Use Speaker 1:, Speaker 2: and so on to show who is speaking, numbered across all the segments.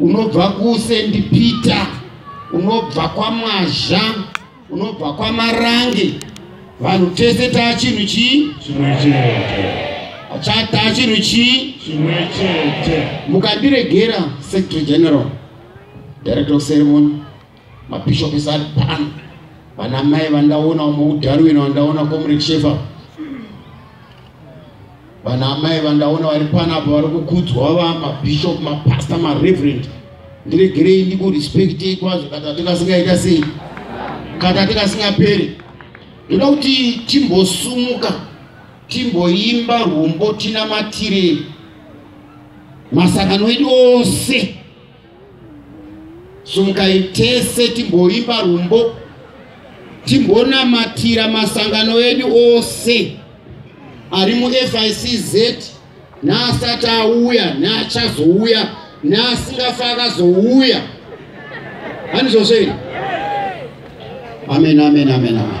Speaker 1: unobva kusendi peter unobva kwamwazha unobva kwamarange vanhu tese taa chinhu chii chimwe chete achataa chinhu chii chimwe chete mukandiregera secretary general director of ceremony mabishop is ari pano vana mai vandaona umwe udarwino vandaona comrade shefa vana amai vandaona vari pano apa vari kukudzwa va mabishop mapastor mareverend ndiregerei ndikurespectei kwazvo kata tikasingaita sei kata tikasingaperi ndoda kuti timbosumuka timboimba rwumbo tinamatire masangano edu ose Sumukai tese timboimba rumbo, timbonamatira masangano edu ose ari muFICZ neasati auya neachazouya neasingafa akazouya. Hanizvozvo here? Amen, amen, amen, amen.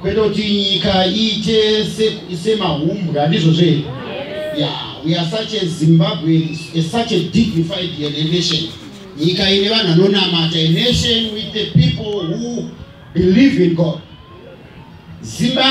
Speaker 1: kwete kuti nyika iite semahumbwa ndizvo zvee ya we are such a zimbabwe such a dignified nation nyika ine vanhu anonamata a nation with the people who believe in god zimbabwe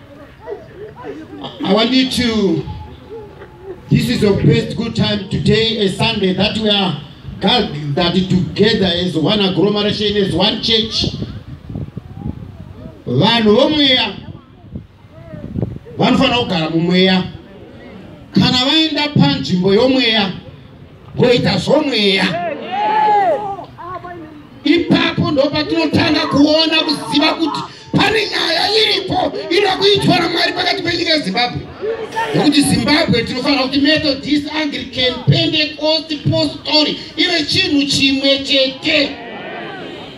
Speaker 1: I want you to, this is your best good time today, a Sunday, that we are gathered that together as one agglomeration, as one church. Vanhu vomweya vanofanira kugara mumweya kana vaenda panzvimbo yomweya woita zvomweya ipapo ndopatinotanga kuona kuziva kuti pane nyaya iripo inoda kuitwa namwari pakati penyika yezimbabwe nokuti zimbabwe tinofanira kuti methodist anglican pentecost postori ive chinhu chimwe chete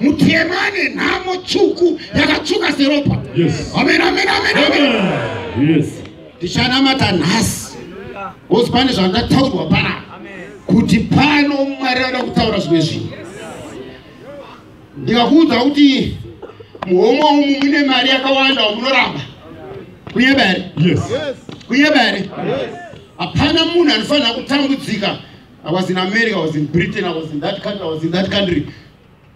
Speaker 1: mutema ane nhamo tsvuku yakatsvuka seropa amen amen amen amen ndichanamata nhasi ozi pane zvandataurwa pana kuti pano mwari anoda kutaura zvimwe zvinhu ndikakuudza kuti muhomwe umu mune mari yakawanda wamunoramba kunyeba here kunyeba here hapana munhu anofanira kutambudzika i was in america i was in britain i was in that country i was in that country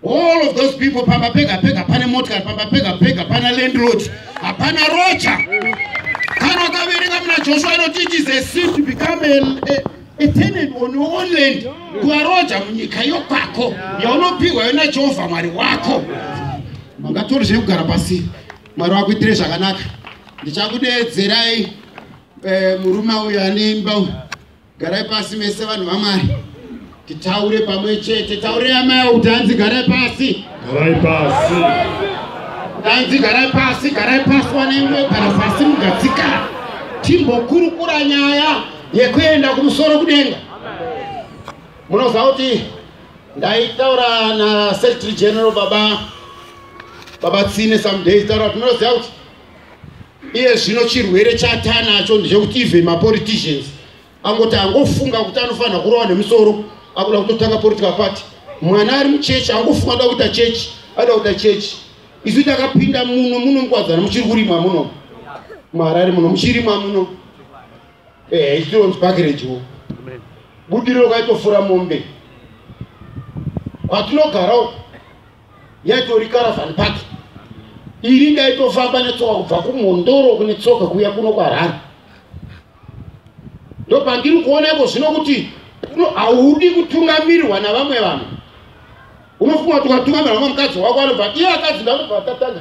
Speaker 1: all of those people pamba pega pega pane motikari pamba pega pega pana landlord hapana rocha kana ukaverenga muna joshua inoti it is a sin to become a, a, a tenant on your own land kuva roja munyika yokwako yaunopihwa yona jehovha mwari wako mangatori zvekugara pasi mwari wakuitire zvakanaka ndichakudeedzerai eh, murume uyo ane imba uyo Garai pasi mese vanhu vamwari. Titaure pamwe chete. Taure amai kuti hanzi garai pasi. Garai pasi. Hanzi garai pasi, garai pasi wanenge gara pasi mugatsika. Timbokurukura nyaya yekuenda kumusoro kudenga. Munoziva kuti ndaitaura na Secretary General baba baba Tsine some days taura kuti munoziva kuti iye zvino chirwere chatanacho ndechekuti even mapoliticians angoti angofunga kuti anofanira kurova nemusoro akuda kutotanga political party mwana ari muchechi angofunga ada kuita chechi ada kuita chechi isu takapinda muno muno mukwadzana muchiri kurimwa muno muharare muno muchirimwa muno ehe ichironzi pakirejiwo budiriro kaitofura mombe kwatinogarawo yaitori caravan park iri ndaitofamba netsoka kubva kumhondoro kune tsoka kuya kuno kwarhara ndopandiri kuona iko zvino kuti haudi kutungamirirwa navamwe vanhu unofunga kuti ukatungamirwa vamwe mukadzi wako anobva iye akadzi ndanobva tatanga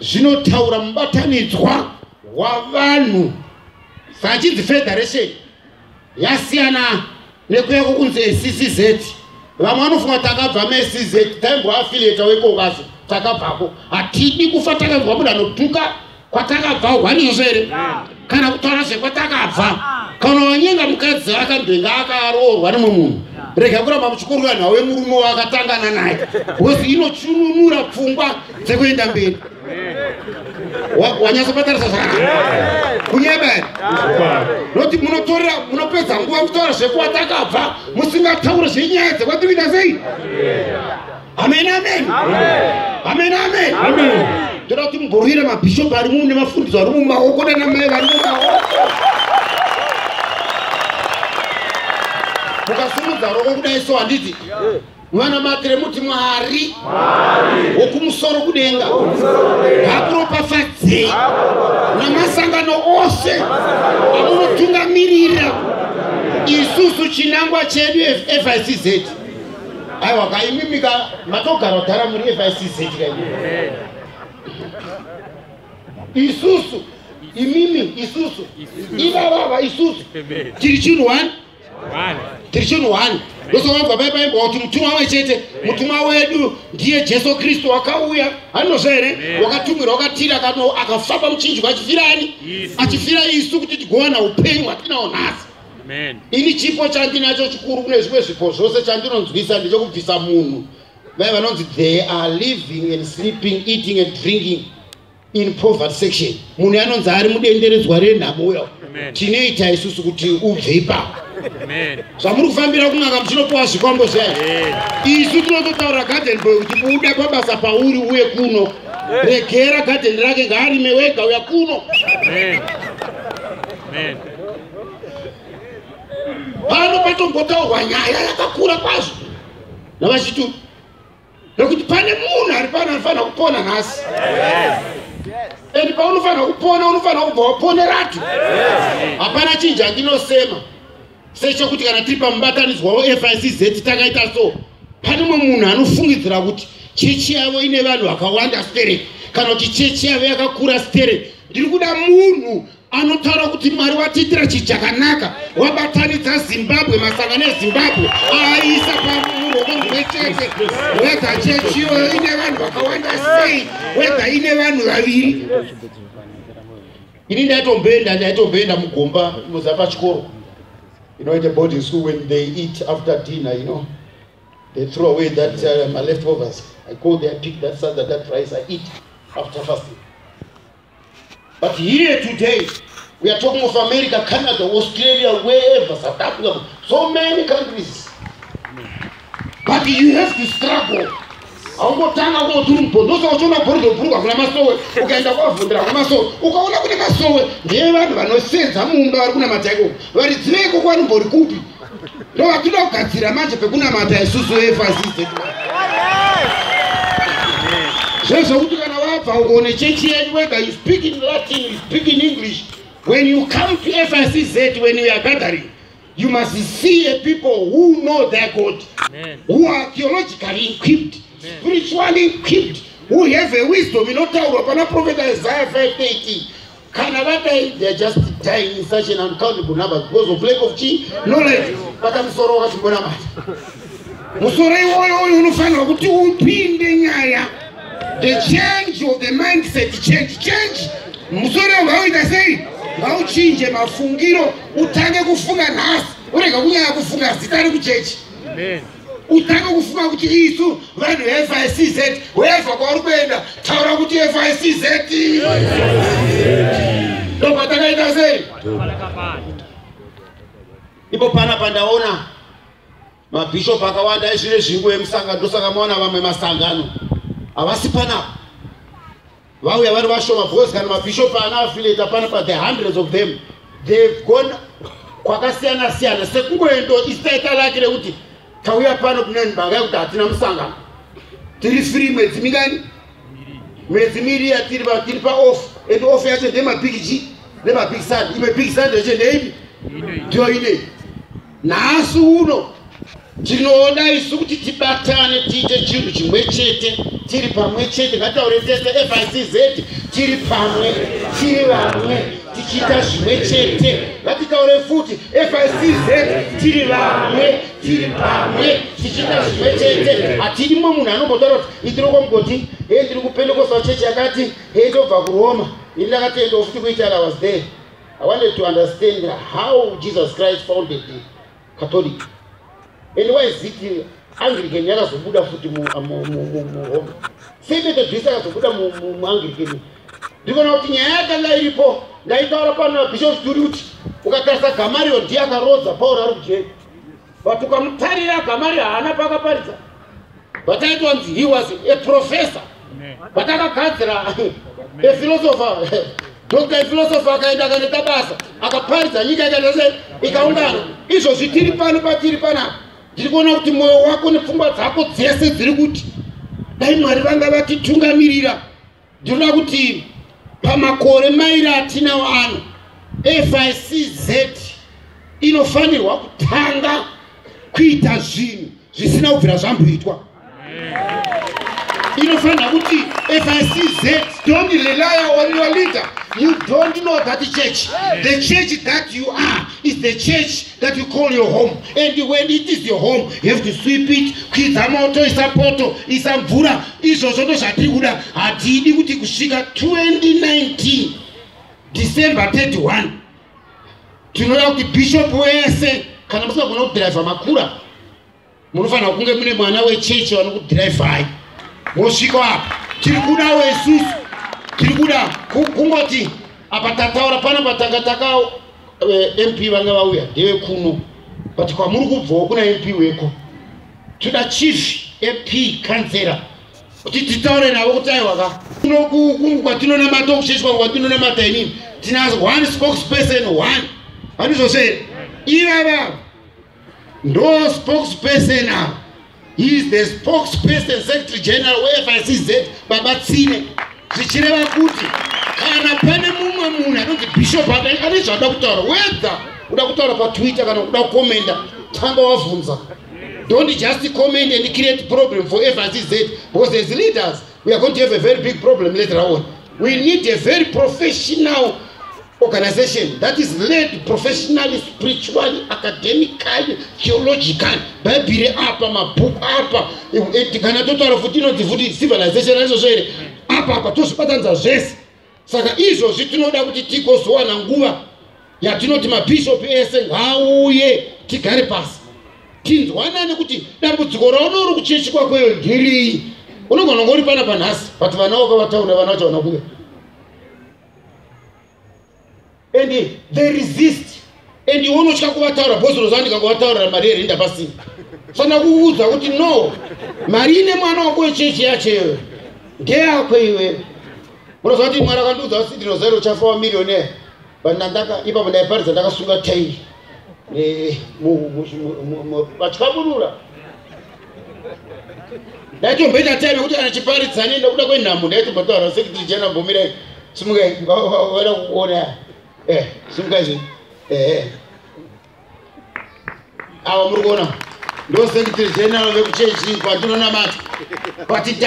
Speaker 1: zvinotaura mubatanidzwa wavanhu vachinzi federation yasiyana nekuya kukunzi eccz vamwe vanofunga kuti takabva meccz taimboafilieta wekokaso takabvako hatidi kufa takabva kuda notuka kwatakabva hwani izvozvo here kana kutaura zvekwatakabva kana wanyenga mukadzi akambenge akaroorwa nemwe munhu rega kuramba muchikorwa nhau yemurume waakatangana naye bcause inochununura pfungwa dzekuenda mberi wanyasa kubatarisa zvakanaka kunyeberi noti munotorera munopedza nguva kutaura zvekuwatakabva musingataure zvenyaya dzekwativina sei amen amen amen amen amen ndoda kuti mugorwira mabhishopu ari mumu nemafundiso ari mumaoko nanamai vari mumaoko mukasimudza roko kudai so handiti mwana matire muti mwari wokumusoro kudenga akuropafadzei namasangano ose amunotungamirira isusu chinangwa chedu fizz aiwa ka imimi ka matogara kudhara muri fisc ka isusu imimi isusu ivavava isusu tiri chinhu one tiri chinhu one ndosakabva pai paimba kuti mutumwa amwe chete mutumwa wedu ndiye jesu kristu akauya anozva here wakatumwira wakatira kano akafamba muchinjwa achifira ani achifira isu kuti tigowana upenyu hwatinao nhasi ini chipo chandinacho chikuru kune zvimwe zvipo zvose chandinonzwisa ndechekubvisa munhu vai vanonzi they are living and sleeping eating and drinking in poverty section munhu anonzi ari mudenderedzwa renhamo uya tinoita isusu kuti ubve ipapo zvamuri kufambira kun'anga muchinopiwa zvikwambo zvayo isu tinototaura garden boy kuti buda pabasa pauri uye kuno regera garden rake ngaarime wega uya kuno pano patombotaurwa nyaya yakakura kwazvo navachituku nekuti pane munhu ari pano anofanira kupona nhasi and paunofanira kupona unofanira kubva waponeratu hapana chinji andinosema sechokuti kana tiri pamubatanidzwa wefizz takaita so pane mwe munhu anofungidzira kuti chechi yavo ine vanhu vakawanda stere kana kuti chechi yavo yakakura stere ndiri kuda munhu anotaura kuti mwari watiitira chi chakanaka wabatanidza zimbabwe masangano ezimbabwe aaiisa pamuruoko mumwe chete wedha chechi iyoyo ine vanhu vakawanda sei wedha ine vanhu vaviri ini ndaitomboenda ndaitomboenda mugomba inoza pachikoro you know in the boarding school when they eat after dinner you know they throw away that uh, my leftovers i go there pick that side that, that rice i eat after fasting But here today, we are talking of America, Canada, Australia, wherever, South Africa, so many countries. But you have to struggle. haungotanga kungoti uri mubhondo osaka uchiona bhorido bhuruku hakuna masowe ukaenda kwavhundira hakuna masowe ukaona kune masowe ndevanhu vanosenza mumba vari kunamata ikoko varidzivei koko vanombori kupi ndovatinoda kugadzira manje pekunamata isusu efasi dzedu zvezvokuti kana wabva uko nechechi yenyu wega you speak in latin you speak in english when you come to fcz when you are gathering you must see a people who know their god Amen. who are theologically equipped Amen. spiritually equipped who have a wisdom inotaurwa pana profeta isaiah 518 kana vadai they are just dying in such an uncountable number because of lack of chi knowledge bata musoro wakatimbonamata musoro iwoyo uyu unofanirwa kuti upinde nyaya the change of the mindset change change musoro vauita sei vauchinje mafungiro utange kufunga nhasi urega kunyaya kufunga zita rekuchechi utange kufunga kuti isu vanhu veficz weva kwauri kuenda taura kuti ficz ndobva takaita sei ipo pana pandaona mabhishopu akawanda ezvine zvingu emusangano ndosaka maona vamwe masangano havasi panapa vauya vari vashoma because kana mabishop ana affiliate apana pa the hundreds of them they've gone kwakasiyana siyana sekungoendo isitaita lake rekuti tauya pano kuneni mhaka yekuti hatina musangano tiri free mwedzi mingani mwedzi miri yatiri tiri paoff and off yacho ndemabig g nemabig sand imwe big sand yacho ndeipi ndiyo inei nhasi uno tinoda isu kuti tibatane tiite chinhu chimwe chete tiri pamwe chete ngataure tese ficz tiri pamwe tiri vamwe tichiita zvimwe chete ngatitaure futi ficz tiri vamwe tiri pamwe tichiita zvimwe chete hatidimo munhu anombotaura kuti itiri kwamugoti he ndiri kupendekosa chechi yakati he ndobva kuroma ini ndakatoendawo futi kuitara was there I wanted to understand how Jesus Christ founded the Catholic. And why is it Anglican yakazobuda futi mu uh, mu mu mu mu Rome. Same Methodist yakazobuda mu mu mu Anglican. Ndiko na kuti nyaya yakanga iripo ndaitaura pana Bishop Sturuti ukatarisa Gamariel ndiye akarodza Paul ari kujeri. but ukamutarira gamari haana pakaparidza but it was he was a professor but akagadzira a philosopher dr philosopher akaenda akanoita basa akaparidza nyika ikaitase ikaungana izvozvi tiri pano patiri panapa ndiri kuona kuti mwoyo wako nepfungwa dzako dzese dziri kuti dai mwari vanga vatitungamirira Ndinoda kuti pamakore mairi atinawo ano FICZ inofanirwa kutanga kuita zvinhu zvisina kubvira zvamboitwa inofanira kuti FICZ don't rely on your leader you don't know that church the church that you are is the church that you call your home and when it is your home you have to sweep it kwidza moto isa poto isa mvura izvozvo ndo zvatiri kuda hatidi kuti kusvika 2019 december 31 tinoda kuti bishop wese kana musingagona kudhiraivha makura munofanira kunge mune mwana wechechi vanokudhiraivhai mosvika apa tiri kudawo isusu tiri kuda kungoti apa tataura pana patanga taka eh, mp vanga vauya ndevekuno but kwamuri kubvawo kuna mp weko toda chief ap kanzera kuti titaure navo kuti aiwa ka unokukungu kwatinonamata kushaiswa kwatinonamata inini tina one spokesperson one vanizvose here ivava ndo spokesperson ava he is the spokesperson secretary general wefcz baba tsine zvichireva kuti kana pane mumwe munhu anonzi bishop ane zvada kutaura wedha uda kutaura patwitter kana kuda kukomenda tanga wavhunza Don't just comment and create problem for FRCZ because as leaders, we are going to have a very big problem later on. We need a very professional organization that is led professionally, spiritually, academically, theologically. Bhaibheri apa, mabhuku apa, kana totaura futi inonzi futi civilization, aizvo zvere, apa apa tozvibatanidza zvese. saka izvozvi tinoda kuti tigozowana nguva yatinoti mabhishopi ese ngaauye tigare pasi tinzwanane kuti dambudziko raona uri kuchechi kwakweyo ndiriyi unogona kunge uri pana panhasi but vana wako vataura vana vachaona kuve and they resist and iwe unotya kuvataura bhozi roziva ndikakuvataurira mari yerenda pasina fana kuudza kuti no mari ine mwana wako wechechi yacho iwe ndeyako iwe unoziva kuti mwari akandiudza kuti ndinozairo uchafa wamirione but nandaka ipapo ndaiparidza ndakasunga tairi vatyaburura ndaitomboita time yekuti kana chiparidzani ndakuda kwenhambo ndaitombotaura sekitiri jena gomirai simukai vada kuona eh, simukai zvi eh, eh. awa muri kuona ndo sekitiri jenaro vekuchechi kwatinonamata but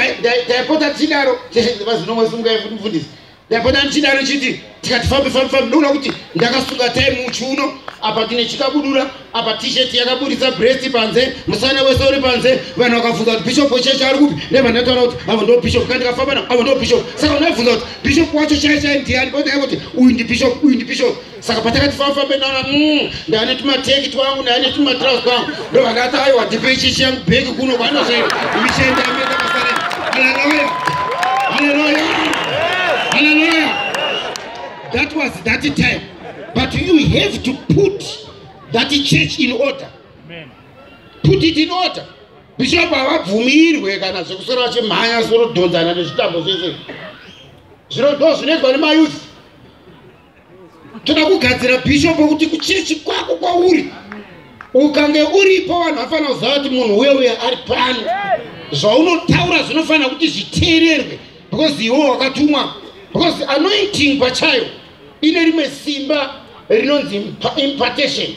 Speaker 1: taipota tichidaro chechi vazinomwe simukai futi mufundisi ndapota ndichidaro chiti tikati fambe fambe fambe ndoona kuti ndakasunga time muchiuno apa tine chikabudura apa t-shirt yakaburitsa breast panze musana wese uri panze vanhu vakabvunza kuti bishop wechechi ari kupi ndevandataura kuti avo ndo bishop ka ndikafamba navo avo ndo bishop saka unabvunza kuti bishop wacho chai chai ndiani onaye kuti uyu ndi bishop uyu ndi bishop saka patakati fafambe nana mm, ndane tumateki twangu ndane tumatraus twangu ndo vakati aiwa tipe ichichi yangu bheki kuno kwanosvika imishende ameta pasarema haleluya haleluya haleluya that was that time but you have to put that church in order put it in order bishop havabvumirwe kana zvekusora vachimhanya zvinodhonzana nezvitambo zvese zvinodo zvinoitwa nemayouth toda kugadzira bhishopu kuti kuchechi kwako kwauri ukange uripo vanhu vafanira kuziva kuti munhu uye uye ari pano zvaunotaura zvinofanira kuti zviteererwe because iwo wakatumwa because anointing pachayo ine rimwe simba rinonzi impartation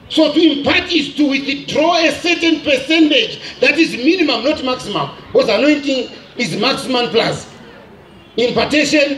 Speaker 1: so to impart is to withdraw a certain percentage that is minimum not maximum because anointing is maximum plus impartation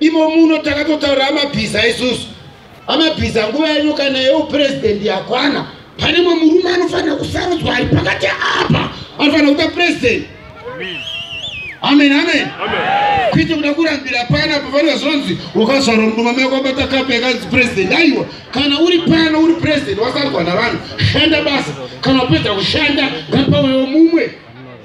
Speaker 1: Imo muno takatotaura amabhiza isusu. Amabhiza nguva yenyu kana yeupurezidendi yakwana. Pane mwe murume anofanira kusarudzwa ari pakati apa anofanira kuita purezidendi. Amen, amen. Kuita kuda kurambira pana pavanenge zvonzi wakazvarwa murume mai kwabata kapu yakanzi purezidendi. Aiwa, kana uri pano uri purezidendi wasarudzwa navanhu, shanda basa. Kana wapedza kushanda, ngapauyewo mumwe.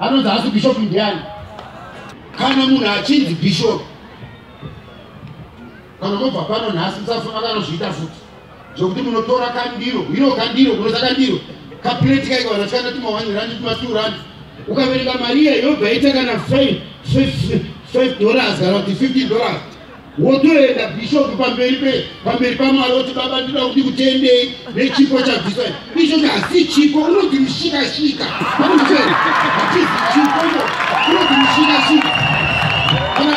Speaker 1: Anonzi haasi bishop ndiani? Kana munhu achinzi bishop kana mobva pano nhasi musafunga kanozviita futi zvokuti munotora kandiro ino kandiro kunoza kandiro kapuleti kaiko kana chikana tuma one rand tuma two rand ukaverenga mari iye yobva ita kana five dollars kana kuti fifteen dollars wotoenda bishop pamberi pe pamberi pamwari oti baba ndida kuti kutendei nechipo chabviswa icho chasi chipo unoti mushikashika amucheni hatizi chipo no unoti mushikashika kana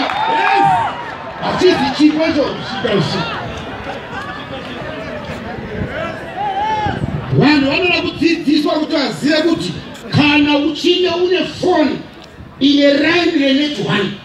Speaker 1: hatizi chipo icho mushikashika vanhu vanoda kudzidziswa kuti vazive kuti kana uchinge une foni ine raini renetone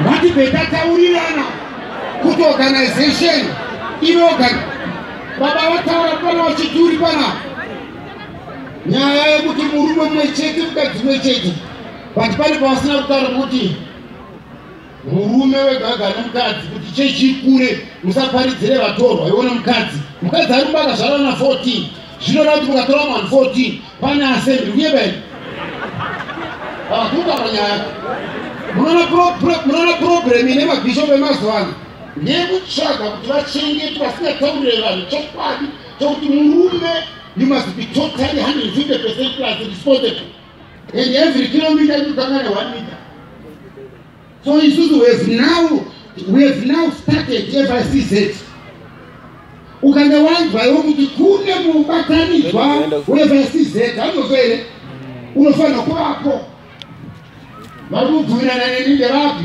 Speaker 1: ngatibve tataurirana kuti organization inoga baba vataura pana vachituri pana nyaya yekuti murume mumwe chete mukadzi mumwe chete but pane pavasina kutaura kuti murume wegaga nomukadzi kuti chechi ikure musaparidzire vatorwa iwo nomukadzi mukadzi ari kumba akazvara na 14 zvinoreva kuti mukatora mwan 14 pane asembi uye bani akuka panyaya munoona problem ine mabhishopu emazuva ano nekutsvaga kuti vachengeti vasingataurire vanhu chokwadi chokuti murume you must be totally 150 percent plus responsible and every kilometer inotanga ne one meter so isusu we have now we have now started fcz ukange wanzwaiwo kuti kune mubatanidzwa wefcz anozvo here unofanira kuvapo vari kubvumirana neni nderapi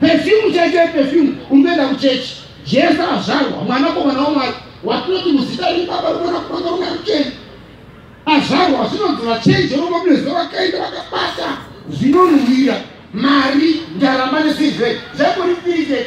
Speaker 1: Perfume chaicho yeperfume unoenda kuchechi. Jesu azvarwa mwana komana wamwari watinoti muzita rebaba rimwana kumwana runa rucheni azvarwa zvinonzi vachenje roma munezuva vakaenda vakabata zvinonhuhwira mari ndarama nesizve zvakoripirite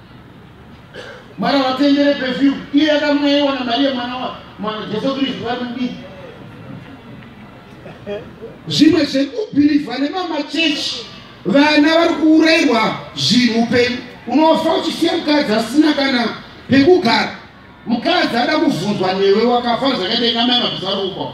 Speaker 1: Mwana watendere perfume iye yakamwewa na Maria mwana wa mwana Jesu Kristu vari mudiki. Zvimwe zvekubhilivha nemamachechi vana vari kuurairwa zvinhu upenyu unofa uchisiya mukadzi asina kana pekugara mukadzi ada kuvhunzwa newe wakafa zvakaita inamai mabvisa ruko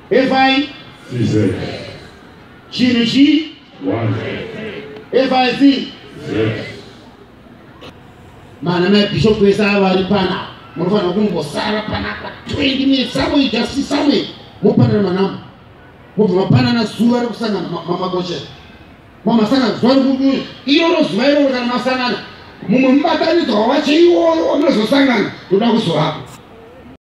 Speaker 1: FI CZ chinhu chi 1 FI C Z mana mai bishop vese ava vari pana munofanira kungosara panapa 20 minutes somewhere just see somewhere mopanana manamba mobva mapanana zuva rekusangana mamakoche mamasangana zuva rekudu iroro zuva iroro kana masangana mumwe mubatanidzwa wacho iwoyo wamunozosangana toda kuzovapo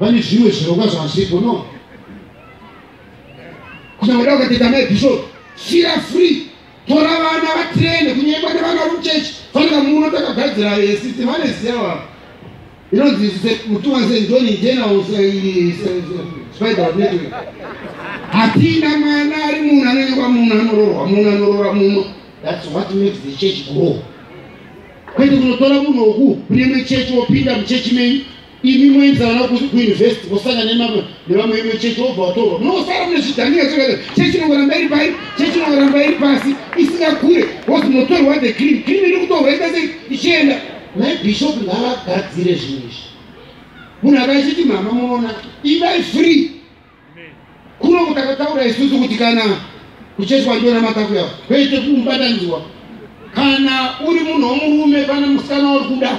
Speaker 1: vane zvimwe zvirongwa zvavasiriko no kunyangweda ukateta mai bishop fira free tora vana vatraine kunyengwa nevana vekuchechi fanira muno takagadzira sisi vane ziyawa inonzi mutuwanse njoni njena spider network hatina mwana ari munhu anonyengwa munhu anororwa munhu anorora muno thats what makes the church grow kwete kunotora munhu woku kune mechechi wopinda muchechi menyu imi moenzana kuuniversity mosanga nevamwe imwe chechi wobva watorwa munosara mune zvidhanira zvekare chechi inongoramba iri pai chechi inongoramba iri pasi isingakure wozi munotorwa the cream cream iri kutorwa ita sei ichienda nai bishop ngavagadzire zvinhu izvi munhu akaachiti mama munoona ivai free Kuno kutakataura isusu kuti kana kucheswa ndiona makafu yavo kwete kumubatanidzwa. Kana uri munhu womurume pane musikana wari kuda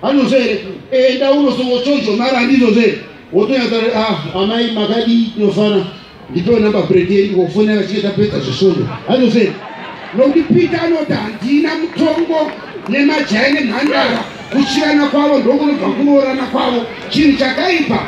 Speaker 1: anozvo here enda unosongochonjomara handizvozvo here wotonyatsa ah, amai makadii tinofana ndipewo namba bredi yedu ndikokufonera chinge tapedza zvesvondo handizvozvo here nokuti peter anoti handina mutongo nemajaya nemhandara kuchirana kwavo ndokunobva kuroorana kwavo chinhu chakaipa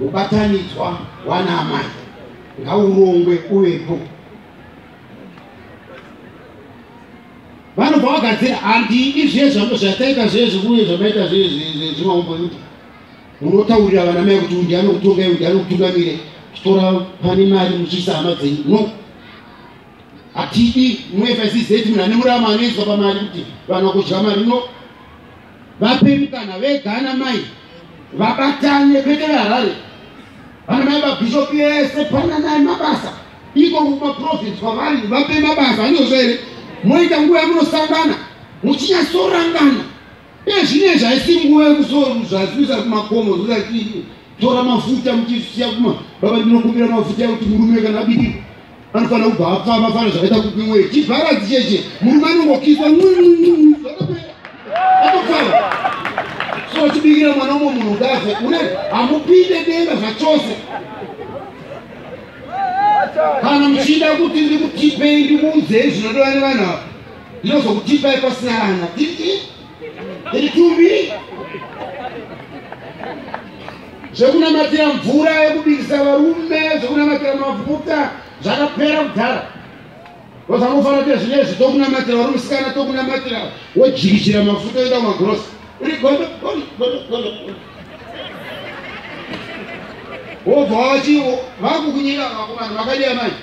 Speaker 1: Mubatanidzwa wana amai ngaurongwe uvepo. Vanobva vagadzira handidi zviye zvangu zvataita zviye zvikuye zvamaita zviye zvimaumbo yuti munotaurira vana mai kuti undi anokutongai undi anokutungamire chitora pane mari muchiisa hama dzenyu no hatidi mufcz munhu ane murama anoiswa pamari kuti vanhu vakudya mari no vape mukana vega ana mai vabatane kwete veharare vana mai vabhishopi vese pananai mabasa iko kumaprovince kwavari vape mabasa anozvo here moita nguva yamunosangana muchinyasorangana ezvine zvaisi nguva yekusoazvisa kumakomo zvozatii tora mafuta muchisiya kuma baba ndinokumbira mafuta ekuti murume kana bikiko Anofanira kubva apfava fana zvakaita kupi weyi. Chivharadzi cheche murume anongokiswa atopfava. So chibikira mwana umwe munhu ngaze une hamupinde denga zvachose. Kana muchida kuti ndikutipei ndikuudzei zvinodiwa nevanhu ava ndinozokutipai pasina vana. itumbi zvekunamatira mvura yekubirisa varume zvekunamatira mafuta zvakapera kudhara vazangofanira kuti zvine izvi tokunamatira vari musikana tokunamatira wojirichira mafuta oita magorosi uri godo wobva wachiwo vakukunyira vakomana vakadii manje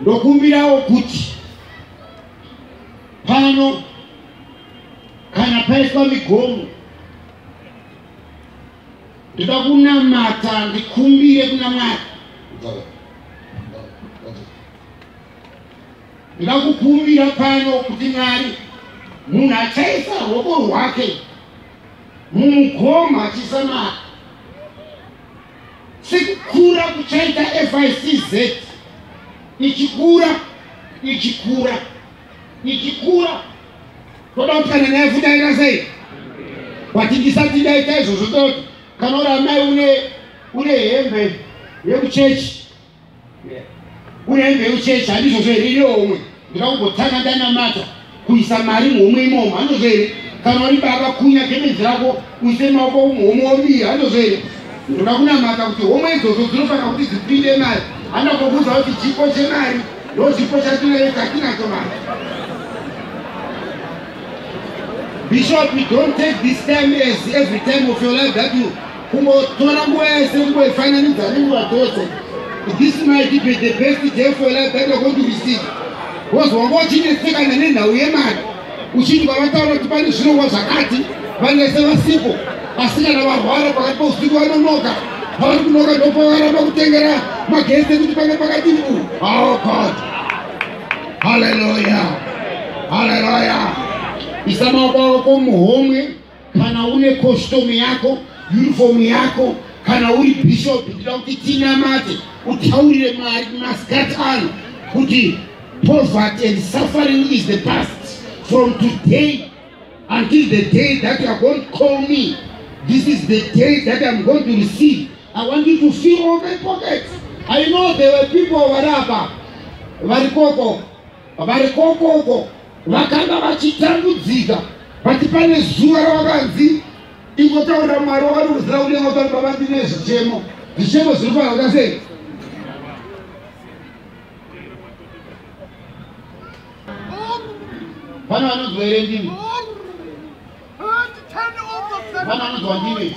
Speaker 1: ndokumbirawo kuti pano kana paiswa migomo ndoda kunamata ndikumbire kuna mwari ndoda kukumbira pano kuti mwari munhu achaisa ruoko rwake mumugoma achisamara Sekukura kuchaita FICZ ichikura ichikura ichikura toda kuti kana naye fudaira sei bati ndisati ndaita izvozvo toti kana uri amai une une hembe yekuchechi Une mbeu chechi handizvozvo here iriwo umwe ndakakugotanga ndanamata kuisa mari muhomwe imomo handozvo here kana uri baba kunya gemenzi rako uise maoko muhomwe wobira handozvo here ndoda kunamata kuti homwe idzodzo dzinofanira kuti dzipinde mari andakokuudza kuti chipo chemari ndo chipo chatinayo chatinacho mari bishop don't take this time as every time of your life that you Kungotora nguva yese kungoifananidza nenguva dzose. This might be the best day for life that you're going to receive. Wozwa wanga uchinetsekana nenhau yemari uchiti vavataura kuti pane zvirongwa zvakati vanese vasipo asi kana varwara pakati pousiku vanonoka pavari kunoka ndopavaramba kutengera magesi ekuti pange pakati mbu oh god haleluya haleluya isa maoko avo komuhomwe kana une costume yako uniform yako kana uri bishop ndida kuti tinamate utaurire mwari masikati ano kuti poverty and suffering is the past from today until the day that you are going to call me this is the day that i'm going to receive i want you to fill all my pockets i know there were people varapa varikoko Vari kokoko vakanga vachitambudzika vati pane zuva ravakanzi ingotaurira mwari wakanozira kunyenga pari pavandine zvichemo zvichemo zviri kuhanga sei vana vanonzwa here ndimi vana vanonzwa ndimi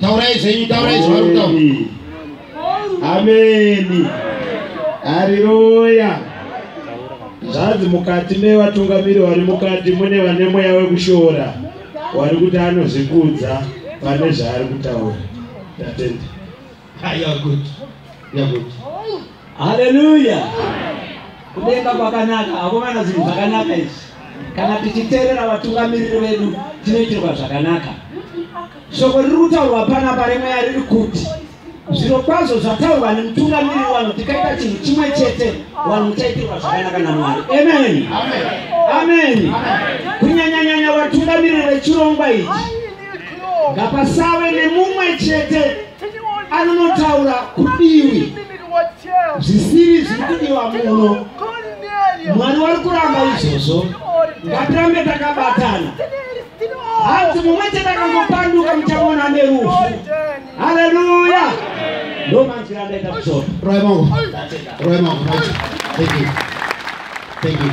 Speaker 1: taurai zvenyu taurai zvavari kutaura ameni hariroya zvanzi mukati mevatungamiri vari mukati mune vane mweya wekushora wari kuti anozvikudza pane zvaari kutaura tatenda Ah, you are good. You are good. haleluya kudenga kwakanaka akomana zvinhu zvakanaka izvi kana tichiteerera vatungamiriri vedu tinoitirwa zvakanaka shoko riri kutaurwa panapa remweya riri kuti zviro kwazvo zvataurwa nemutungamiriri wanhu tikaita chinhu chimwe chete wanhu muchaitirwa zvakanaka namwari amen amen kunyanyanyanya vatungamiriri vechirongwa ichi ngapasave nemumwe chete anonotaura kudiwi zvisiri zviri kudiwa muno mwari wari kuramba izvozvo ngatirambe takabatana hanzi mumwe chete akangopanduka muchaona nerufu haleluya ndo manzwi andaita kushora roya mangu roya mangu right thank you thank you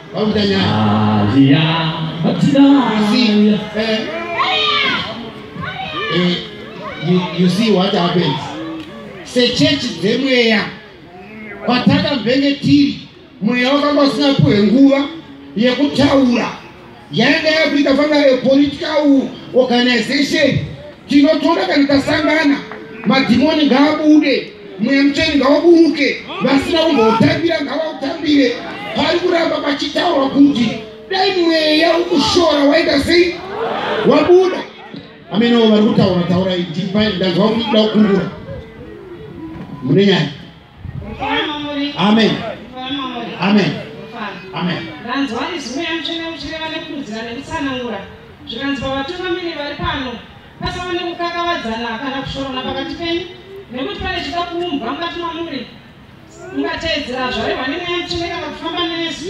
Speaker 1: you see what happens sechechi dzemweya kwatakamvenge tiri mweya wakanga usina puhe nguva yekutaura yanga yakuita fanga epolitical organization Tinotora kana tasangana, madhimoni ngaabude, mweya mutsvene ngauburuke, vasina kumboutambira ngavautambire. Pari kuramba pachitaurwa kuti dai mweya ukushora waita sei wabuda. Ameno vari kutaura taura idipai ndanzwa kuti kuda kukungura mune nyaya Amen. Amen. Amen. Ndanzwa izwi yamutsvene uchireva nekurudzira nekutsanangura zvikanzi pavatungamiri vari pano pasava nekukakavadzana kana kushorona pakati penyu nekuti pane chida kuumbwa mukati mamuri ungateedzera zvarehwa nemweya mutsvene kana kufamba nesu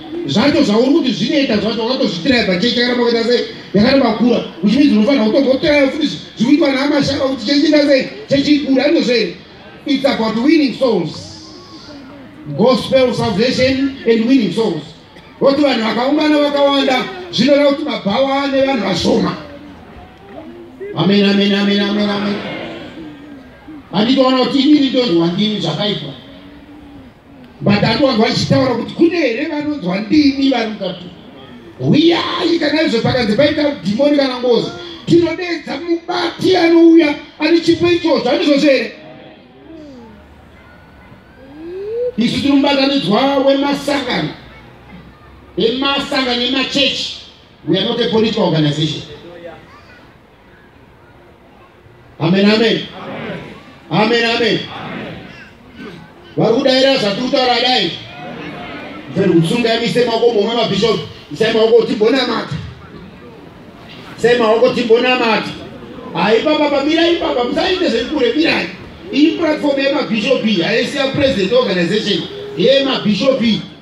Speaker 1: zvacho zvauri kuti zvinoita zvacho wakatozvitirai pachechi yakaramba kuita sei yakaramba kura uchimidzi unofanira kutombotiraya futi zvikuitwa naamashaka kuti chechi ita sei chechi ikura andozvo here it's about winning souls gospel salvation and winning souls voti vanhu vakaungana vakawanda zvinoreva kuti mabhawa ane vanhu vashoma amen amen amen amen amen anditoona kuti inini ndozviwandini zvakaitwa but ati wanga vachitaura kuti kune here vanonzwa ndimi vari mukati huyai kana izvo pakanzi paita dhimoni kana ngozi tinodeedza mubati anouya ane chipo ichozvo andizvozvo here isu tiri mubatanidzwa wemasangano emasangano emachechi we are not a political organization amen amen amen amen vari kudaira zvatiri kutaura dai mferi kutsunga yamise maoko momwe mabhishopi isai maoko tibonamata isai maoko tibonamata haipapa pamira ipapa musaite zvekure mirai iyi platform yemabhishopi haisiya president organization yemabhishopi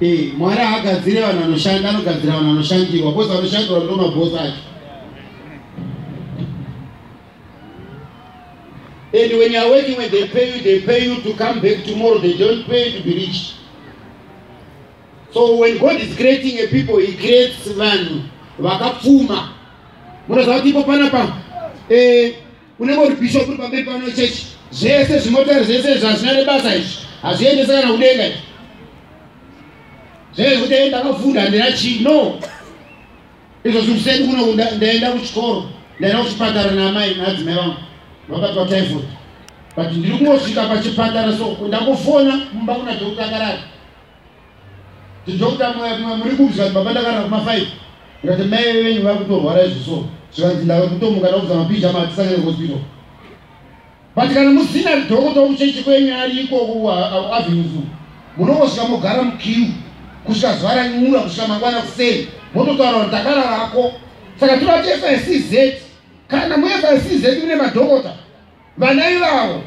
Speaker 1: Eh, Mwari haagadzire vanhu vanoshanda, anogadzira vanhu vanoshandirwa, bozi vanoshandirwa ndo mabhosi acho. And when you are working, when they pay you, they pay you to come back tomorrow. They don't pay you to be rich. So when God is creating a people, He creates vanhu vakapfuma. Munoziva kuti ipo panapa eh, unenge uri bishop uri pamberi pano chechi zvese zvimotari zvese izvi hazvina nebasa izvi hazviendese kana kudenga izvi zvekuti e ndakafunda handina chii no izvo zvinhu sedu kuno ndaenda kuchikoro ndaenda kuchipatara naamai naadzimai vangu vakatwa typhoid but ndiri kungosvika pachipatara so ndakufona mumba kuna dhokuta akarara tijokuta mwe muri kupi zvikanzi baba ndakarara kuma five ndikati mai venyu vari kutorwara izvi so zvikanzi ndave kutomuka ndakuza mapizha matisangane kuhospital but kana musina dhokota wokuchechi kwenyu ari ikoko kuavenuzu munongosvika mogara mukiu kusvika zuva ranyura kusvika mangwana kuseni mototaura kuti takararako saka tinoati fscz kana mufscz mune madhokota Vana ivavo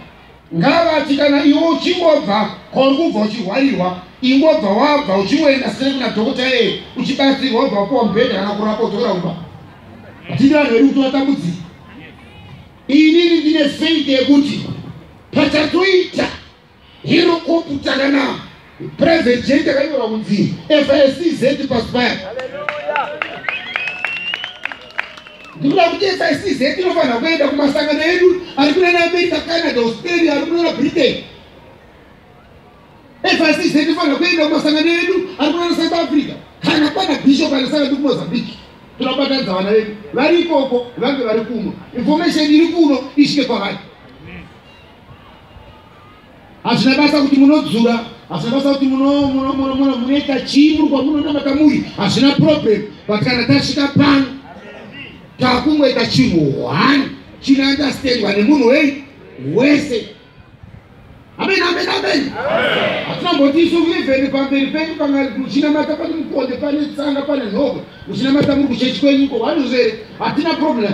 Speaker 1: ngavati kana iwe uchingobva kwauri kubva uchihwarirwa ingobva wabva uchingoenda sere kuna dhokota iyeye uchibatsirwa ubva kuwa mubhedha kana kurapa udzokera kumba hatidi vanhu vedu kuti vatambudzika inini ndine faith yekuti pachatoita Hero Kopu Takanama, President Jane takanyorwa kunzi FICZ pasi paya. Ndikuda kuti FICZ inofanira kuenda kumasangano edu ari kuna America, Canada, Australia, ari kuna Britain. FICZ inofanira kuenda kumasangano edu ari kuna South Africa kana kwana Bishop anosanga ndi kuMozambique. Tinobatanidza vana vedu vari ikoko vange vari kuno. Information iri kuno isvike kwavari. hazvina basa kuti munodzura hazvina basa kuti munoita chii muri kwamunonamata muri hazvina problem but kana tasvika pano takungoita chinhu one chinounderstandwa nemunhu wei wese amen amen amen hatina mboti isu vivheni pamberi penyu kana muchinamata pane mukonde pane tsanga pane nhoko muchinamata muri kuchechi kwenyuko vanhu zvere hatina problem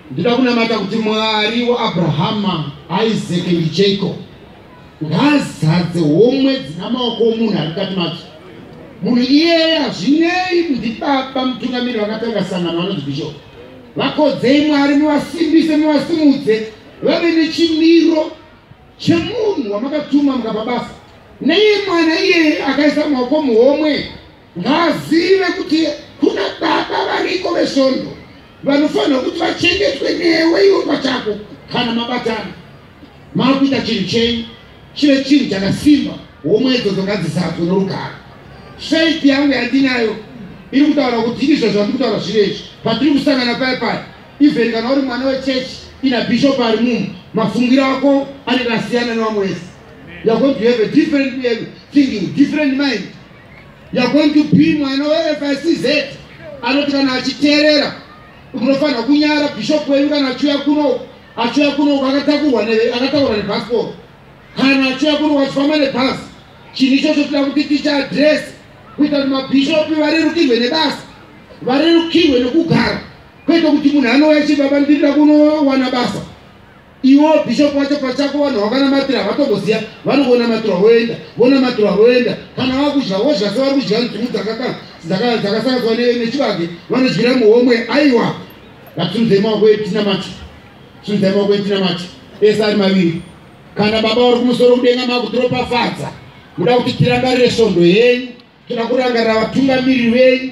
Speaker 1: Ndinoda kunamata kuti Mwari waAbrahama, Isake ndiJacob ngaazadze homwe dzina maoko omunhu ari mukati madzo. Munhu iyeye hazvinei ndibaba mutungamiri vakatanga sangano vanonzi bishop. Vakodzei Mwari muvasimbise muvasimudze vave nechimiro chemunhu wamakatuma mukapa basa. Neiye mwana iyeye akaisa maoko muhomwe Ngaazive kuti kuna baba variko vesvondo vanofanirwa kuti vachengetwe newe iwe pachako kana mabatana makuita chinhu chenyu chive chinhu chakasimba homwe idzodzo ngadzizadzwe norugaro faith yangu yandinayo iri kutaura kuti izvo zvandiri kutaura zviri izvi patiri kusangana paye paye even kana uri mwana wechechi ina bishop ari mumu mafungiro ako anenge asiyana nevamwe wese you're going to have a different thinking different mind You are going to be mwana weFICZ anoti kana achiteerera munofanira kunyara bishop wenyu kana achiuya kuno achiuya kuno akatakurwa akatakurwa nebhasikoro kana achiuya kuno achifamba nebhasi chinhu ichocho tida kuti ticha adress kuita kuti mabhishopi varerukirwe nebasa varerukirwe nekugara kwete kuti munhu anouya chibaba ndinoda kunowana basa Iwo bishop wacho pachako vanhu vakanamatira havatomboziva vanongonamatirwa voenda vonamatirwa voenda kana vakudya wozva se vari kudya nzungu dzakasanganiswa nechibage vanodyira muhomwe aiwa ngatisunzei maoko edu tinamati sunzai maoko edu tinamati ese ari maviri kana baba vari kumusoro kudenga makutoropafadza muda kuti tirangarire svondo yenyu toda kurangarira vatungamiriri venyu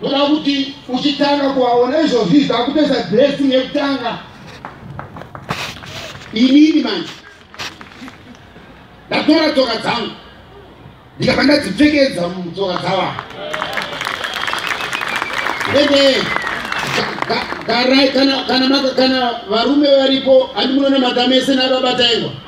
Speaker 1: Kuda kuti uchitanga kuwaona izvozvi zvakupedza dressing yekutanga inini manje ndatora tsoka dzangu ndikabva ndadzipfekedza mutsoka dzava ende kana varume varipo handimunonamata mese nababataengwa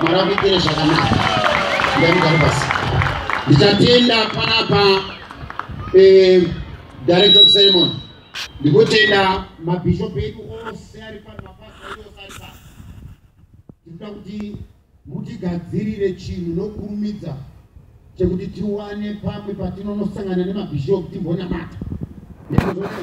Speaker 1: Mwari akuitire zvakanaka. Ndai mugare pasi. Ndichatenda panapa eh, director of ceremony. Ndikutenda mabishop edu ose ari pano mapastor edu ose ari pano. Tikuda kuti mutigadzirire chinhu nokurumidza chekuti tiwane pamwe patinonosangana nemabishop timbonamata. Ndizvo zvose.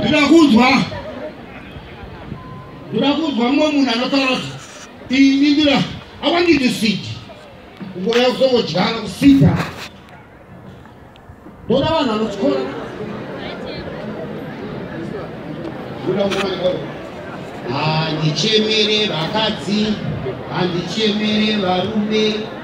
Speaker 1: ndida kunzwa ndida kunzwa mumwe munhu anotaura kuti ini ndira awandidi sidi kungouya kuzongodyana kusida ndoda vanhu vanotyora handichemere vakadzi handichemere varume